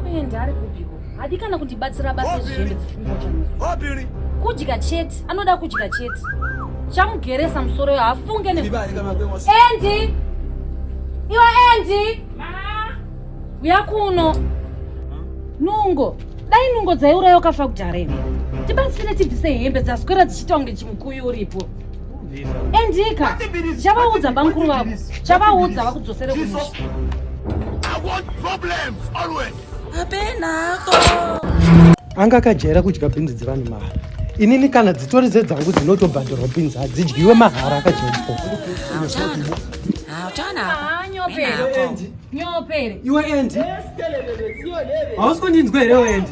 kuenda ari kupiko hadi kana kundibatsira basa izvizvende zvichimbochamuzi kudya chete anoda kudya chete chamugeresa musoro yo hafunge ne endi iwe endi uya kuno nungo dai nungo dzaiurayokafa kudhara ine tibatsire tibvise hembe dzaswera dzichiita kunge chimukuyu uripo endika chavaudza bamukuru vako chavaudza vakudzosere kumusha anga akajaira kudya bhinzi dzevanhu mahara inini kana dzitori dzedzangu dzinotobhadharwa bhinzi hadzidyiwe mahara akajaiswa iwe endi hausi kundinzwa here wendi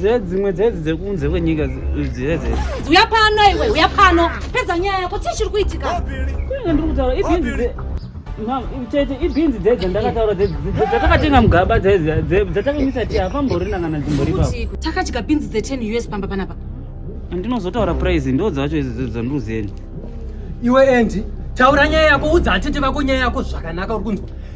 dzedzimwe dzedzi dzekunze kwenyika dzedzi uya pano iwe uya pano pedza nyaya yako chii chiri kuitika kunenge ndiri kutaura ibhinzi tete ibhinzi dzedzi ndakataura dzatakatenga mugaba dzatakamisa ti hapamborina kana dzimbori ipapo takadya bhinzi dze10 us pamba panapa ndinozotaura prize ndo dzacho idzi dzanduzeni iwe endi taura nyaya yako udza atete vako nyaya yako zvakanaka uri kunzwa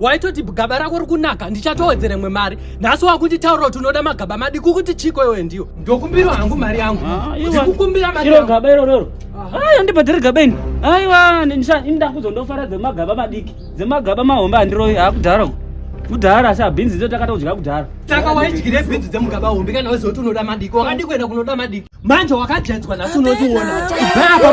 waitoti gaba rako rikunaka ndichatowedzere mwe mari nhasi wakunditaura kuti unoda magaba madiki ukuti chiko iwe ndiyo ndokumbirwa hangu mari yangu ah, ndikukumbira mari yangu gaba iro roro ayi andibhadhiri gaba ini aiwa ndakuzo ndofara dzemagaba madiki dzemagaba mahombe handiroyi akudhara uku kudhara asi abhinzi dzo takatodya kudhara saka waidyire bhinzi dzemugaba hombe kana wezoti unoda madiki wakadi kuenda kunoda madiki manje wakajaidzwa nhasi unotiona baa